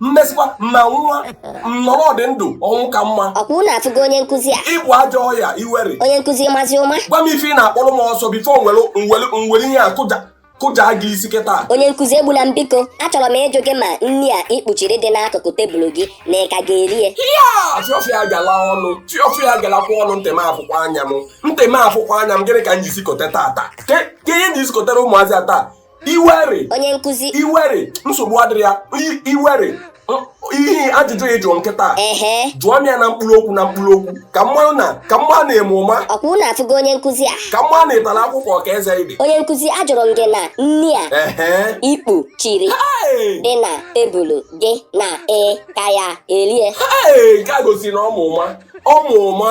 mmesịkwa ma nwa nnọrọ dị ndụ ọnwụ ka mma ọkwa unu afụgo onye nkụzi a ị bụ ajọ ọya iwere onye nkụzi mazi ụma gwa m ife ị na-akpọrọ m ọsọ before m were ihe a kụjaa gị isi kịta onye nkụzi egbuna m biko achọrọ m ịjụ gị ma nri a ị kpuchiri dị n'akụkụ tebụl gị na ị ka ga-eri ya fiọfịa gala ọnụ fiọfịa galakwa ọnụ ntị m afụkwa anya m ntị m afụkwa anya m gịnị ka m ji sikọta tata ka ihe ji sikọtara ụmụazị a taa iwere onye nkụzi iwere nsogbu adịrọ ya iwere ihe ajụjụ ị jụ m kịta jụọ m ya na mkpụrụ okwu na mkpụrụ okwu ka mmanụ na ka mma na-eme ụma ọkwa unu afụgo onye nkụzi a ka mma na-etara akwụkwọ ka eze ibe onye nkụzi ajụrụ m gị na nri a ị kpuchiri dị na tebụlụ gị na ị ka ya-erie nke a gosi na ọ ma ụma ọ ma ụma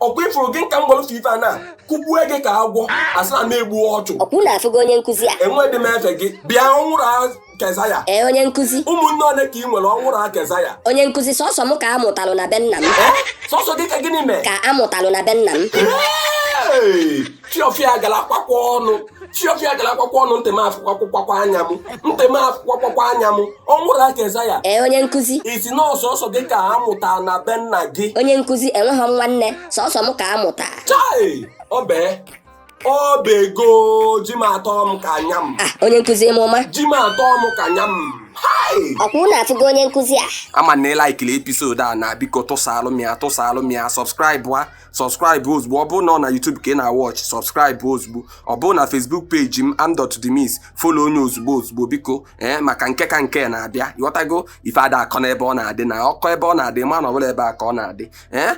ọkwa ị fụrụ gị ka m welụ ife a na kụgbue gị ka agwọ a sị na m egbuo ọchụ ọkwa unu afụgo onye nkụzi a enwedị m efe gị bịa ọnwụrụ a kezaya ee onye nkụzi ụmụnne ole ka ị nwere ọnwụrụ a kezaya onye nkụzi sọsọ m ka a mụtalụ na be nna m ee sọsọ gị ka gịnị mee ka a mụtalụ na be nna m Hey! fiọfịa galakwakwa ọnụ fiọfịa galakwakwa ọnụ ntị m afụkwakwakwa anya m ntị m afụkwakwakwa anya m ọnwụrụ a kezaya ee onye nkụzi ị sị na ọ sọsọ gị ka a mụta na be nna gị onye nkụzi enweghị m nwanne sọsọ m ka a mụta chai ọbee ọbego ji m atọ m ka anya m ah onye nkụzi ịma ụma ji m atọ m ka anya m hai ọkwa unu afụgo onye nkụzi a ama m na ị like-ịlị episode a na biko tụsaalụ m ya tụsaalụ m ya subscribe subscribe ozugbo ọ bụrụ na ọ na YouTube ka ị na-awatch subscribe ozugbo ọ bụrụ na Facebook page m am dot demis follow onye ozugbo ozugbo biko ee maka nke ka nke na-abịa ị ghọtago ife ada akọ n'ebe ọ na-adị na ọ kọ ebe ọ na-adị ma na ọ bụla ebe a ka ọ na-adị ee